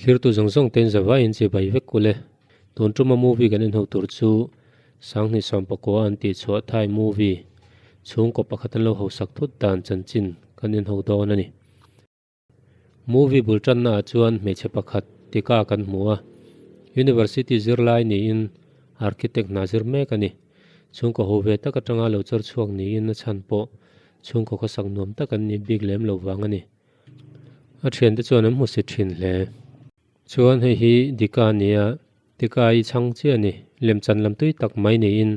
Thirtu zawng zawng ten zavai in che bai vek kule. Tun tuma movie kan en ho tur chu Sangni Sawmpakua an tih chhuah Thai movie chhungkaw pakhat an lo hausak thut dan chanchin kan en ho dawn a ni. Movie bul tanna ah chuan hmeichhe pakhat tika kan hmu a, University zirlai niin Architect hna zir mek a ni. Chhungkaw ho ve tak atanga lo chawr chhuak niin a chhan pawh chhungkaw khawsak nuam tak an nih bik lem lo vang a ni. A thian te chuan an hmu si thin hle. Chuan hei hi Dika nia, tika i chhang chiah a ni, lemchan lam tui tak mai niin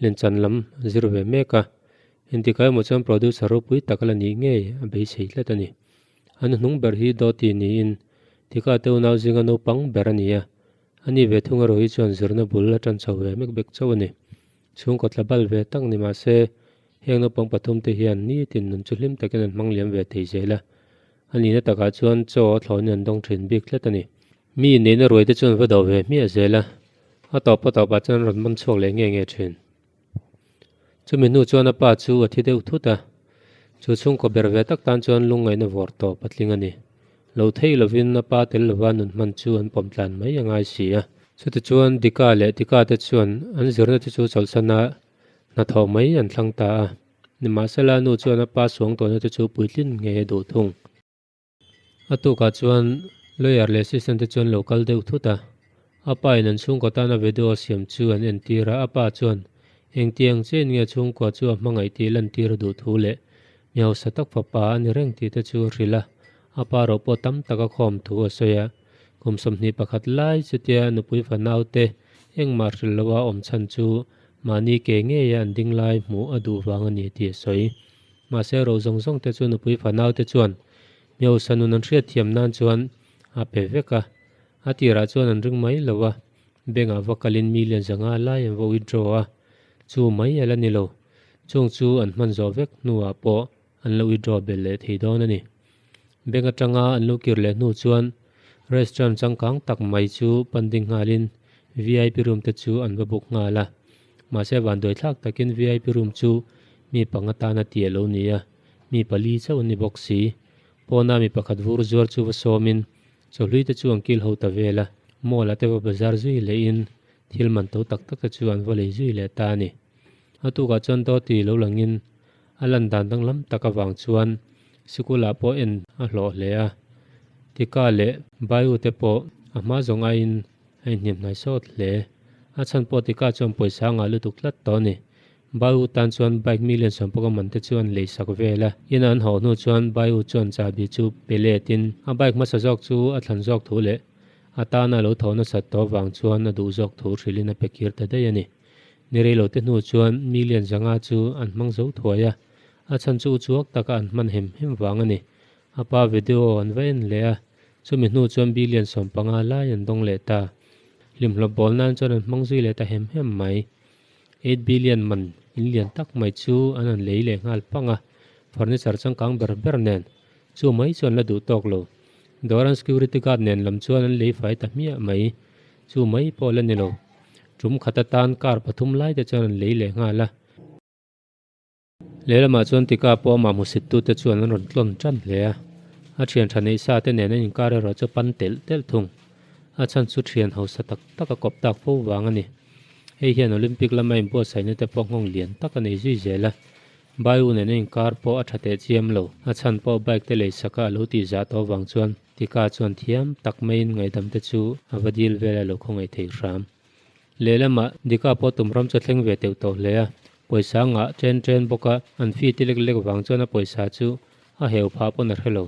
lemchan lam zir ve mek a, Intikai maw chuan producer ropui tak la nih ngei a beisei tlat a ni. An hnung ber hi Dawti niin Tika te unau zinga naupang ber a ni a, a ni ve thung erawh hi chuan zirna bul a tan chho ve mek bek chauh a ni. Chhungkaw tla bal ve tak ni mahse, heng naupang pathum te hian nitin nun chu hlim takin an hmang liam ve thei zel a. A nihna takah chuan chaw a thlawin an dawng thin bik tlat a ni. Mi inneihna ruai te chuan va do ve hmiah zel a, a tawp a tawpah chuan an rawn man chhuak leh nge nge thin. Chumi hnu chuan a pa chu a thi deuh thut a, chu chhungkaw ber ve tak tan chuan lungngaihna vawr tawh patling a ni. Lo thei lovin a pa tel lova nun hman chu an pawm tlan mai a ngai si a. Chutichuan Dika leh Tika te chuan an zirna te chu chawlhsana hnathawh mai an thlang ta a, nimahsela nu chuan a pa suang tawhna te chu puitlin ngei a duh thung. A tukah chuan lawyer leh assistant te chuan lo kal deuh thut a, a pa in an chhungkaw tan a vedu a siam chu an entir a, a pa chuan engtiang che in nge chhungkua chu a hmangaih tih lantir a duh thu leh mi hausa tak fapa a ni reng tih te chu a hrilh a, a pa erawh pawh tam tak a khawm thu a sawi a, kum sawmhnih pakhat lai chutia a nupui fa naute engmah hril loa awm chhan chu mahni ke ngeia an ding lai hmuh a duh vang a ni tih a sawi. Mahse, ro zawng zawng te chu nupui fanau te chuan Miosa nun an hriatthiam nan chuan a pe vek a. A tirah chuan an ring mai lo a, bank ah va kalin million zanga alai an va withdraw a, chu mai ala ni lo. Chung chu an hman zawh vek hnu ah pawh an lo withdraw belh leh thei dawn a ni. Bank atanga an lo kir leh hnu chuan restaurant changkang tak mai chu pan ding nghalin VIP room te chu an va book nghal a. Mahse van duaithlak takin vip room chu mi panga tan a ti a lo ni a, mi pali chauh a ni bawk si. Pawna mi pakhat vur zuar chu va sawmin chawhlui te chu an kil ho ta vel a, mall-ah te va bazar zui leh in thil man to tak tak te chu an va lei zui leh ta a ni. A tukah chuan Dawti lo langin A lan dan danglam tak avang chuan sikula pawh en a hlawh hle a, Tika leh Bayu te pawh a hma zawng aiin a inhnem hnai sawt hle. A chhan pawh Tika chuan pawisa a ngah lutuk tlat tawh a ni. Bayu tan chuan bike mi len sawmpawh ka man te chu an lei sak vel a. In a an hauh hnu chuan Bayu chuan chahbi chu pelet in a bike hmasa zawk chu a thlan zawk thu leh a tana a lo tho nasat tawh avang chuan a duh zawk thu hrilh in a pe kir ta daih a ni. Ni rei lote hnu chuan mi lian zanga chu an hmang zo thuai a, a chhan chu uchuak taka an hman hem hem vang a ni. A pa video an va en leh a, chumi hnu chuan bi lian sawm panga lai an dawng leh ta. Hlimhlawp bawl nan chuan an hmang zui leh ta hem hem mai. Eight bi lian man in lian tak mai chu an han lei leh nghal pang a, furniture changkang ber ber nen. Chu mai chu an la duh tawk lo. Dawr an security guard nen lam chuan an lei fai ta hmiah mai. Chu mai pawh la ni lo. Tum khat atan car pathum lai te chuan an lei leh nghal a. Lehlamah chuan tikah pawh amah hmusittut te chuan an rawn tlawn ṭan hle a. A ṭhian ṭha neih sa te nen an inkar erawh chu pan telh telh thung. A chhan chu ṭhian hausa tak tak a kawp tak fo vang a ni. Hei hian Olympic lama inbuatsaihna te pawh nghawng lian tak a nei zui zel a. Baiu nen a inkar pawh a ṭha teh chiam lo. A chhan pawh bike te lei sakah a lo tihzah tawh vang chuan. Tika chuan thiam tak maiin ngaihdamte chu a va dil vela lo khawngaih thei hram. Lehlamah Dika pawh tum hram chu a thleng ve teuh tawh hle a, pawisa ngah chen chen bawk a, an fee ti lek lek vang chuan a pawisa chu a heu phah pawn a hre lo.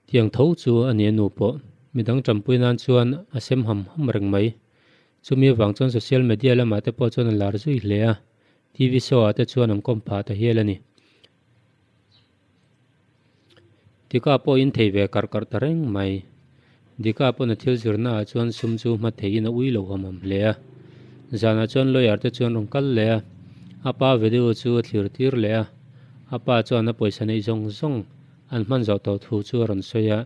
Tiang tho chu a ni a nu pawh, midang ṭampui nan chuan a sem ham ham reng mai. Chumi avang chuan social media lamah te pawh chuan a lar zui hle a, TV show ah te chuan an kawm phah ta hial a ni. Tika pawh in thei ve karh karh ta reng mai. Dika pawn a thil zirna ah chuan sum chu hma thei in a ui lo ham ham hle a. Zan ah chuan lawyer te chuan rawn kal leh a. A pa video chu a thlir tir leh a. A pa chuan a pawisa neih zawng zawng an hman zawh tawh thu chu a rawn sawi a.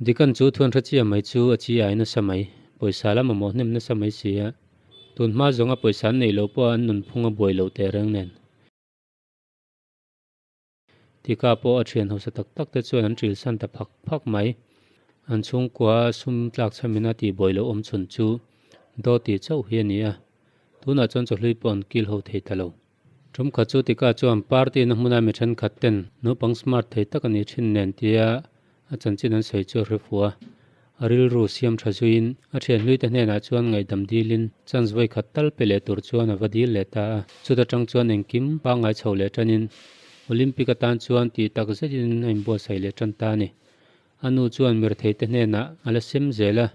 Dikan chu thuan hre chiah mai chu a chi ai nasa mai. Pawisa lam a mawhnem nasa mai si a. Tun hma zawnga pawisa an neih loh pawh a an nunphung a buai lo teh reng nen. Tika pawh a thian hausa tak tak te chuan an ṭilsan ta phak phak mai. An chhungkua a sum tlakchham in a tihbawi loh awmchhun chu Dawti chauh hi a ni a, tunah chuan chawhlui pawh an kil ho thei ta lo. Ṭumkha chu Tika chuan party-na hmuna mi ṭhenkhat ten naupang smart thei tak a nih ṭhin nen tia A chanchin an sawi chu a hrefu a, a rilru siam tha zuiin a thianhlui te hnenah chuan ngaihdam dilin chance vawikhat tal pe leh tur chuan a va dil leh ta a. Chuta tang chuan engkim pangngai chho leh tanin Olympic atan chuan tih tak zetin a inbuatsaih leh tan ta a ni. A nu chuan mirthei te hnenah a la sem zel a,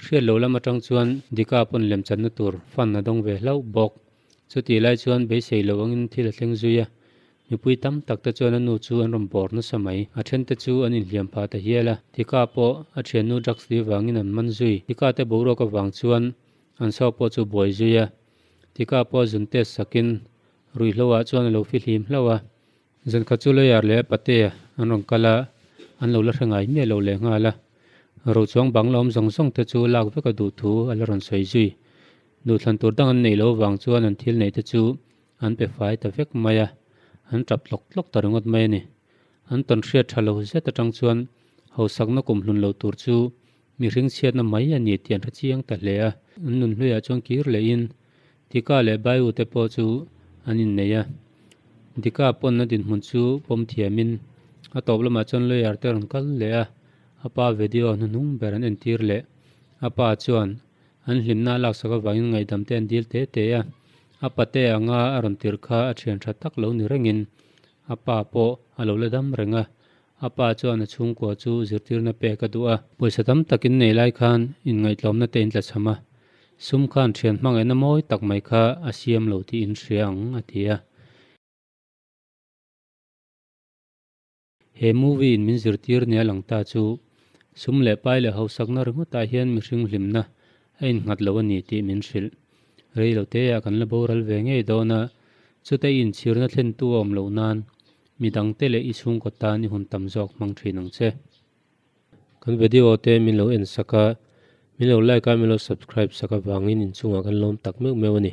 hriat loh lam atang chuan Dika pawn lemchanna tur fun a dawng ve hlauh bawk. Chutih lai chuan beisei lo angin thil a thleng zui a, mipui tam tak te chuan a nu chu an rawn bawr nasa mai. A then te chu an inhliam pha ta hial a, tika pawh a thiannu drugs li avangin an man zui. Tika te boruak avang chuan an saw pawh chu buai zui a, tika pawh zun test sakin ruihhlo ah chuan a lo fihlim hlauh a, Zan kha chu lawyer leh pate an rawn kal a, an lo la hre ngai miah loh leh nghal a, ro chuang bang la awm zawng zawng te chu lak vek a duh thu a la rawn sawi zui. Duhthlan tur dang an neih loh vang chuan an thil neih te chu an pe fai ta vek mai a, an tap tlawk tlawk ta ringawt mai a ni. An tawnhriat tha lo zet atang chuan hausakna kum hlun lo tur chu Mihring chhiatna mai a ni tian hrechiang ta hle a, an nun hluiah chuan kir lehin Dika leh Baiu te pawh chu an innei a. Dika pawnna dinhmun chu pawm thiamin a tawp lamah chuan lawyer te rawn kal leh a, a pa vedio a hnuhnung ber an entir leh. A pa chuan an hlimna a laksak avangin ngaihdam te an dil tê tê a, a pate anga a rawn tirh kha a thian tha tak lo ni rengin a pa pawh a lo la dam reng a. A pa chuan a chhungkua chu zirtirna pek a duh a. Pawisa tam takin nei lai khan inngaihtlawmna te in tla chham a, sum khan thian hmangaihna mawi tak mai kha a siam lo tih in hria ang, a ti a. He movie in min zirtir nia lang ta chu sum leh pai leh hausakna ringawtah hian mihring hlimna a innghat lo a ni tih min hrilh. Reilote ah kan la boral ve ngei dawn a, chute in chhirna thlentu a awm loh nan Mi dangte leh i chhungkaw tan i hun tam zawk hmang thin ang che. Kan video te min lo en sak a, min lo like a, min lo subscribe sak avangin inchungah kan lawm tak meuh meuh a ni.